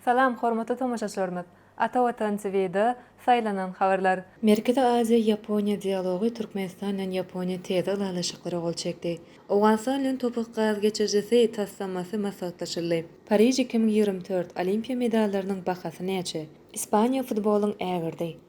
Salam hormatly tomaşaçylarymyz! Ata Watan TVda saýlanan habarlar. Merkezi Aziýa, Ýaponiýa dialogy, Türkmenistan bilen Ýaponiýa täze ylalaşyklara gol çekdi. Owganystan bilen Topuk gaz geçirijisi taslamasy maslahatlaşyldy. Pariž iki müň ýigrimi dört Olimpiýa medallarynyň bahasy näçe? Ispaniýa futbolyň ägirdi.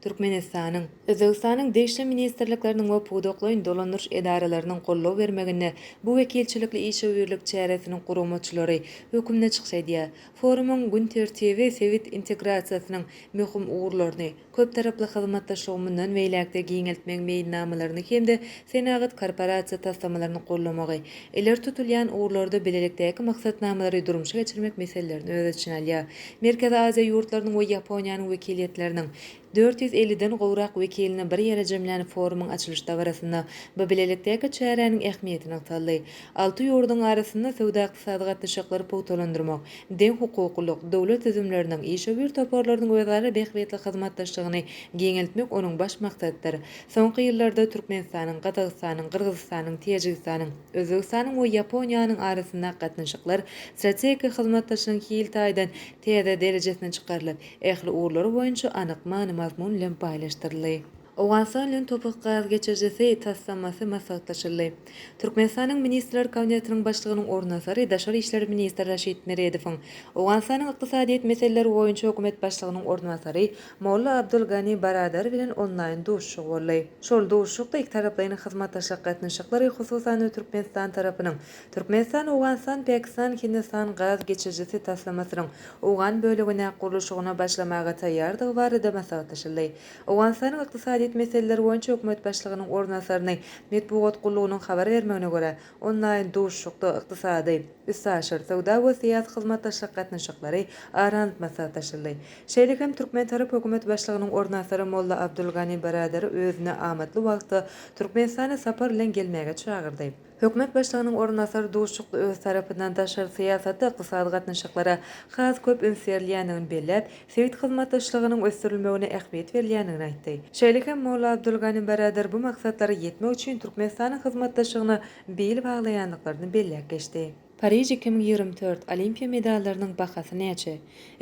Türkmenistanyň, Özbegistanyň degişli ministrlikleriniň we pudaklaýyn dolandyryş edaralarynyň goldaw bermeginde bu wekilçilikli işewürlik çäresiniň guramaçylary hökmünde çykyş edýär. Forumyň gün tertibi sebit integrasiýasynyň möhüm ugurlaryny, köptaraply hyzmatdaşlygy mundan beýläk-de giňeltmegiň meýilnamalaryny hem-de senagat korporasiýa taslamalaryny goldamagy, ileri tutulýan ugurlarda bilelikdäki maksatnamalary durmuşa geçirmek meselelerini öz içine alýar. Merkezi Aziýa ýurtlarynyň we Ýaponiýanyň wekiliýetleriniň dört ýüz elliden gowrak wekilini bir ýere jemlän forumyň açylyş dabarasynda bu bilelikdäki çäräniň ähmiýeti nygtaldy. Alty ýurduň arasynda söwda-ykdysady gatnaşyklary pugtalandyrmak, deňhukuklylyk, döwlet düzümleriniň, işewür toparlarynyň özara bähbitli hyzmatdaşlygyny giňeltmek onuň baş maksadydyr. Soňky ýyllarda Türkmenistanyň, Gazagystanyň, Gyrgyzystanyň, Täjigistanyň, Özbegistanyň we Ýaponiýanyň arasyndaky gatnaşyklar strategik hyzmatdaşlygyň hil taýdan täze derejesine çykarylyp, ähli ugurlary boýunça anyk many-mazmun bilen baýlaşdyryldy. Owganystan bilen Topuk gaz geçirijisi taslamasy maslahatlaşyldy. Türkmenistanyň Ministrler Kabinetiniň Başlygynyň orunbasary daşary işler ministri Raşid Meredowyň, Owganystanyň ykdysadyýet meseleleri boýunça hökümet başlygynyň orunbasary Molla Abdul Gani Baradar bilen onlaýn duşuşygy boldy. Şol duşuşykda ikitaraplaýyn hyzmatdaşlyk gatnaşyklary, hususan-da, Türkmenistan tarapynyň Türkmenistan-Owganystan-Pakistan-Hindistan gaz geçirijisi taslamasynyň owgan bölegine gurluşygyna başlamaga taýýardygy barada maslahatlaşyldy. Owganystanyň ykdysadyýet meseleleri boýunça hökümet başlygynyň orunbasaryny metbugat gullugynyň habar bermegine görä, onlaýn duşuşykda ykdysady, üstaşyr söwda we syýasy hyzmatdaşlyk gatnaşyklary aranp maslahatlaşyldy. Şeýle hem türkmen tarap Hökümet Başlygynyň orunbasary Molla Abdulgani Baradary özüne amatly wagtda Türkmenistana sapar bilen gelmäge çagyrdy. Hökümet Başlygynyň orunbasary duşuşykda öz tarapyndan daşary syýasata, ykdysady gatnaşyklara has köp üns berilýändigini belläp, sebit hyzmatdaşlygynyň ösdürilmegine ähmiýet berilýändigini aýtdy. Şeýle hem Molla Abdulgani Baradar bu maksatlara ýetmek üçin Türkmenistanyň hyzmatdaşlygyna bil baglaýandyklaryny belläp geçdi. Pariž iki müň ýigrimi dört, Olimpiýa medallarynyň bahasy näçe?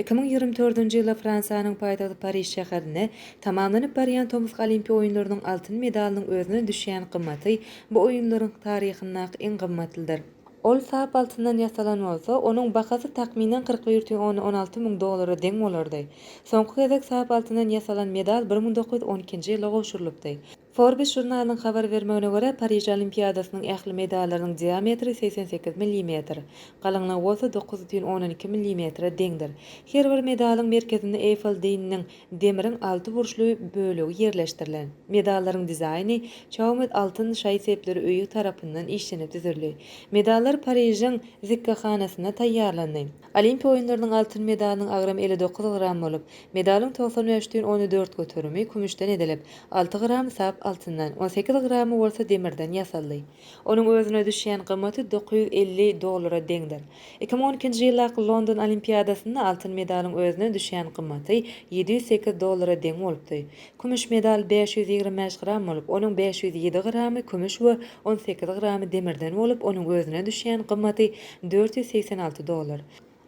Iki müň ýigrimi dördünji ýyla Fransiýanyň paýtagty Pariž şäherinde tamamlanyp barýan tomusky Olimpiýa oýunlarynyň altyn medalynyň özüne düşýän gymmaty bu oýunlaryň taryhyndaky iň gymmatlydyr. Ol sap altyndan ýasalan bolsa, onuň bahasy takmynan kyrk bir ýüz on on alty müň dollara deň bolardy. Soňky gezek sap altyndan ýasalan medal bir müň dokuz ýüz on ikinji ýylda gowşurylypdy. Forbes žurnalynyň habar bermegine görä, Pariž Olimpiadasynyň ähli medallarynyň diametri segsen sekiz millimetr, galyňlygy bolsa dokuz düýn ondan iki millimetre deňdir. Her bir medalyň merkezinde Eýfel Dynnyň demiriň alty burçly bölegi ýerleşdirilen. Medallaryň dizaýny Chaumet altyn şaý-sepleri öýi tarapyndan işlenip düzüldi. Medallar Parižiň zikgehanasynda taýýarlandy. Olimpiýa oýunlarynyň altyn medalynyň agramy elli dokuz gram bolup, medalyň togsan bäş düýn ony dört göterimi kümüşden edilip, alty gramy sap altyndan, on sekiz gramy bolsa demirden ýasaldy. Onuň özüne düşýän gymmaty dokuz ýüz elli dollara deňdir. Iki müň on ikinji ýyllaky London Olimpiadasynda altyn medalyň özüne düşýän gymmaty ýedi ýüz sekiz dollara deň bolupdy. Kümüş medal bäş ýüz ýigrimi bäş gram bolup, onuň bäş ýüz ýedi gramy kümüş we on sekiz gramy demirden bolup, onuň özüne düşýän gymmaty dört ýüz segsen alty dollar.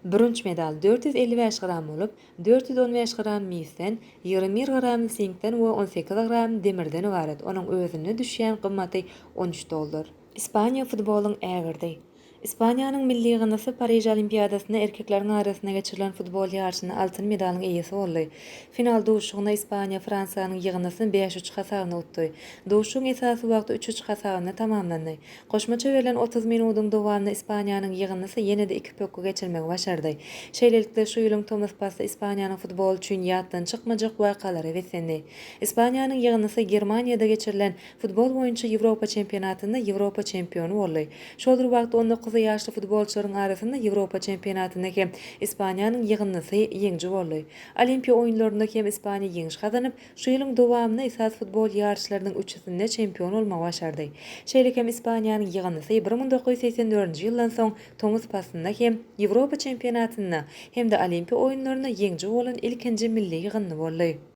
Bürünç medal dört ýüz elli bäş gram bolup, dört ýüz on bäş gram misden, ýigrimi bir gram sinkden we on sekiz gram demirden ybarat, onuň özüne düşýän gymmaty on üç dollar. Ispaniýa futbolyň ägirdi. Ispaniýanyň milli ýygyndysy Pariž Olimpiadasynda erkekleriň arasynda geçirilen futbol ýaryşynda altyn medalyň eýesi boldy. Final duşuşygynda Ispaniýa Fransiýanyň ýygyndysyny bäş üç hasabynda utdy. Duşuşygyň esasy wagty üç-üç hasabynda tamamlandy. Goşmaça berlen otuz minudyň dowamynda Ispaniýanyň ýygyndysi ýene-de iki pökgi geçirmegi başardy. Şeýlelikde, şu ýylyň tomus pasly Ispaniýanyň futboly üçin ýatdan çykmajak wakalara beslendi. Ispaniýanyň ýygyndysyGermaniýada geçirilen Futbol boýunça Ýewropa çempionatynda Ýewropa çempiony boldy. Şol bir wagtda on dokuz ýaşly futbolçylaryň arasynda Ýewropa çempionatynda hem Ispaniýanyň ýygyndysy ýeňiji boldy. Olimpiýa oýunlarynda hem Ispaniýa ýeňiş gazanyp, şu ýylyň dowamynda esasy futbol ýaryşlarynyň üçüsinde çempion bolmagy başardy. Şeýle hem Ispaniýanyň ýygyndysy bir müň dokuz ýüz segsen dördünji ýyldan soň tomus paslynda hem Ýewropa çempionatynda hem-de Olimpiýa oýunlarynda ýeňiji bolan ilkinji milli ýygyndy boldy.